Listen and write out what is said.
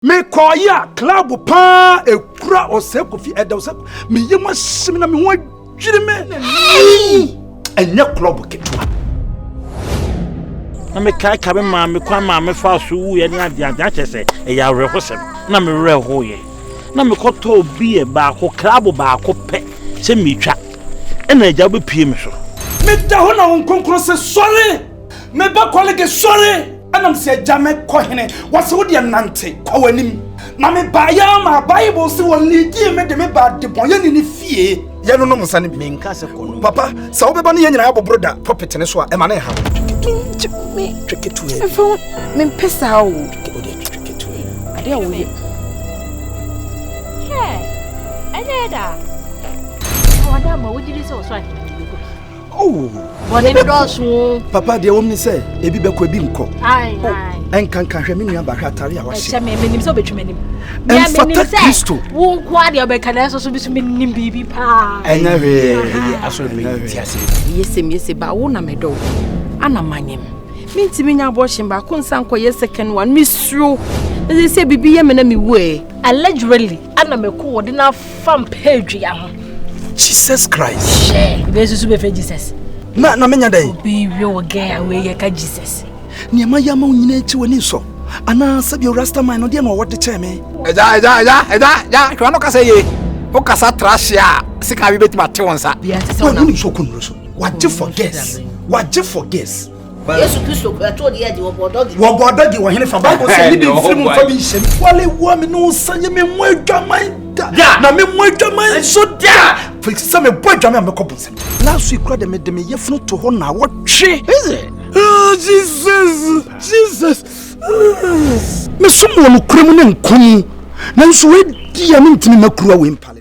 Mekɔɔeɛ a, cloud pa ara ɛkura ɔsɛe Kofi ɛda ɔsɛ meyɛ mu ahye me na me ho adwiri me. Ɛnyɛ club ketewa. Na mekaeka me maame kwan maame faa so wuiɛ ne adeade akyɛ sɛ ɛyɛ awerɛhosɛm na me werɛ hoeɛ. Na mekɔtɔɔ beer baako club baako pɛ sɛ metwa ɛna agya wobɛpue me so. Meda hɔ na Honhom Kronkron se, Sɔre! meba kɔlege sɔre ɛnam sɛ agya me kɔ hene wɔse wo deɛ nante kɔ w'anim na mebaeɛ ma bible se wɔ lidie me de me baa debɔnyɛni ne fie yɛnonom nsa no bi papa sɛ wobɛba ne yɛ nyinaa bɔboro da pɔpete ne so a ɛma ne ha mempɛ saa o adeɛ a woyɛ ɛnyɛ da ɔda ma wogyiri sɛ ɔsɔ ahene bɔne dɔɔso mu. papa deɛ wɔm ne sɛ ebi bɛkɔ ebi nkɔ ɛnkanka hwɛ me nuaba hwɛ atare a wahyɛ menim sɛ wobɛtwam anim ɛmfata kristo wo nko a deɛ ɔbɛka na ɛsɛ so bi so menim biribi paa ɛnyɛ hwee ɛyɛ asɔre no mɛti ase yɛsɛm yɛsɛ ba wo na medɔ wo ana manyem mentimi nya abɔhyen baako nsa nkɔyɛ second one mesuro ɛsɛ sɛ biribi yɛ me na mewu ɛ allegedly ɛna mɛkɔ wɔde no afa mpɛ dua ho jesus christ hyɛ bɛsusu bɛfɛ jesus na na menya dɛn bɛwie wɔ gɛn a wei yɛka jesus nneɛma yɛ ama wo nyina akyi w'ani nsɔ anaa sɛdeɛ rastaman no deɛ na ɔwɔ de kyɛɛ me ɛgya ɛgya ɛgya ɛgya ɛgya hwɛ no kasa yie wo kasa tra hye a sika bi bɛtumi ate wo nsa w'ani nsɔ kɔnnuro so wagye for gas wagye for gas yesu kristo kura to deɛ de wɔbɔ dɔgi. wɔbɔ dɔgi wɔ hene fa bible sɛ ne bi mfiri mu mfa bi nhyɛ mu. wale wɔ me no nsa yɛ me mu adwaman da na me mu adwaman nso da firi sɛ mebɔ adwaman a mɛkɔ bonsɛm last week kora de mede me yɛfunu to hɔ na wɔtwe oh, jesus jesus mesom wɔ nokora mu ne nkwa mu nanso wadi a mentumi makura wei mpale